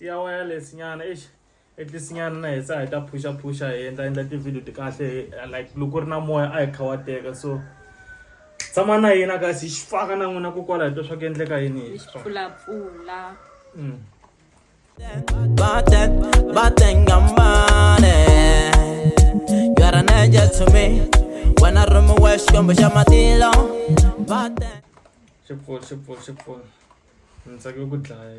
ya wireless nyana eish at least nyana na hi sa hi ta phusha phusha hi endla endla ti-video ti kahle like loko ku ri na moya a hi kha wa teka so tshama na yena kasi hi xi faka na n'wina ko kwala hi twa swa ku endleka yini hi xi pfulapfula mm. Baten, baten gambane You are an angel to me When I run my wash, come by my tilo Baten Shipful, shipful, shipful Ntsake ku dlaya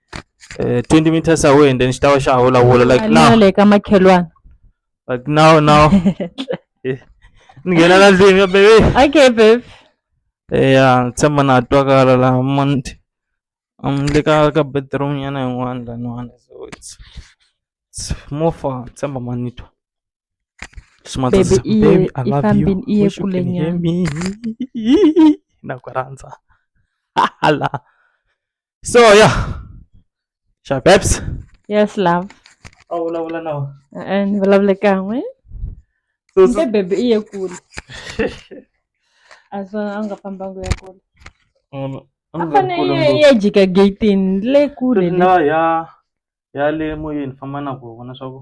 eh, 20 meters away and then xi ta va xa vulavula like now le ka makhelwana like now now eh, ni nghena la ndlwini ya bebe okay bebe eya ni tshemba na twakala la monti um le ka ka bedroom yana yin'wana laniwana so it's it's more far ni tshemba ma ni twa baby iye ifambini iye kule nyama na ku rhandza hala so yeah sha babs yes love a vulavula na wena ni vulavule kan'we se bebe i ye kule a swona a nga fambangu ya kule a fane ya jika gatini le kule na ya ya le moyeni famba na ku vona swa ku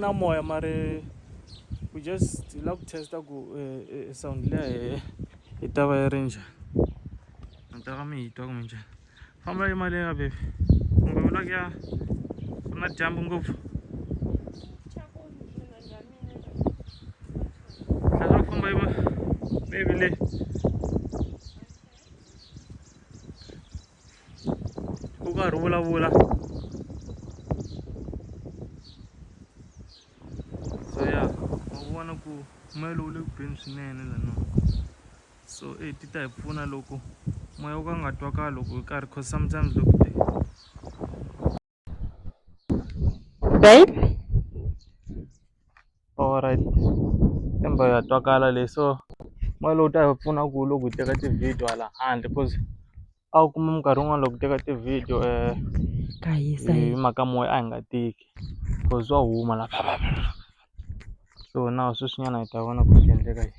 na moya mara we just hi lava ku test-a ku sound liya hehe yi ta va yi ri njhani mi ta va mi yi twa kumbe njhani famba yi mali ya baby kumbe u lava ku ya ku na dyambu ngopfu tlhela famba yi va baby leyi u karhi u vulavula so ya ma vona ku moya lowu le ku beni swinene lanoo so e ti ta hi pfuna loko moya wo ka nga twakali loko hi karhi cause sometimes loko babe alright emba ya twakala leyi so mali lowu ta hi pfuna ku loko hi teka ti-video hala handle cause a wu kuma minkarhi yin'wani loko hi teka ti-video ka hisa hi mhaka moya a hi nga tiki cause swa huma la so na sweswinyana hi ta vona ku swi endleka yini.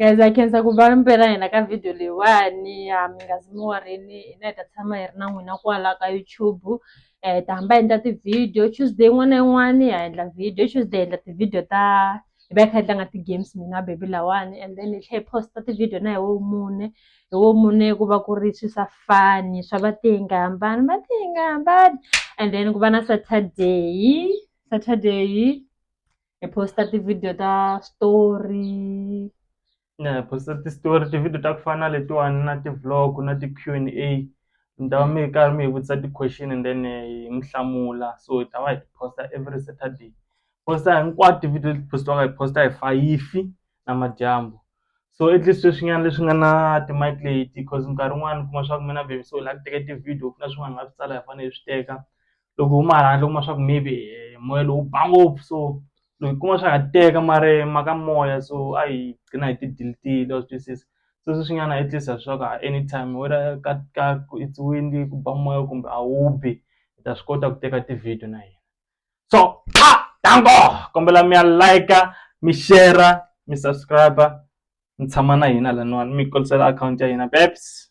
guys a khensa ku va mpela hina ka video leyiwani a mi nga zi mi warini hina hi ta tshama hi ri na n'wina kwala ka youtube um hi ta hamba hi endla ti-video tuesday yin'wana na yin'wana ha endla video tuesday hi endla ti-video ta hi va hi kha hi tlanga ti-games mina baby lawani and then hi tlhe hi posta ti-video na hi wo mune hi wo mune ku va ku ri swi sa fani swa va ti nga hambani va ti nga hambani and then ku va na saturday saturday hi posta ti-video ta story na hi posta ti-story ti-video ta ku fana na letiwani na ti-vlog na ti-q and a mi ta va mi ri karhi mi hi vutisa ti-question and then eh, hi mi hlamula so hi ta va hi posta every saturday posta hinkwato ti-video leti postiwaka hi posta hi fayifi na madyambu so at least sweswinyana leswi nga na ti-mic leti because nkarhi wun'wani kuma swa ku mina baby so hi lava ku teka ti-video ku na swin'wana hi nga swi tsala hi fanele hi swi teka loko huma hala handle u kuma swa ku maybe moya lowu ba ngopfu so loko hi kuma swa ha teka mara mhaka moya so a hi gcina hi ti delete-ile wa swi twisisa se sweswi nyana at least swa ku anytime whether ka ka it's windy ku ba moya kumbe a wu bi hi ta swi kota ku teka ti-video na hina so a dango kombela mi ya like mi share mi subscribe mi tshama na hina laniwani mi yi kulisela akhawunti ya hina babes.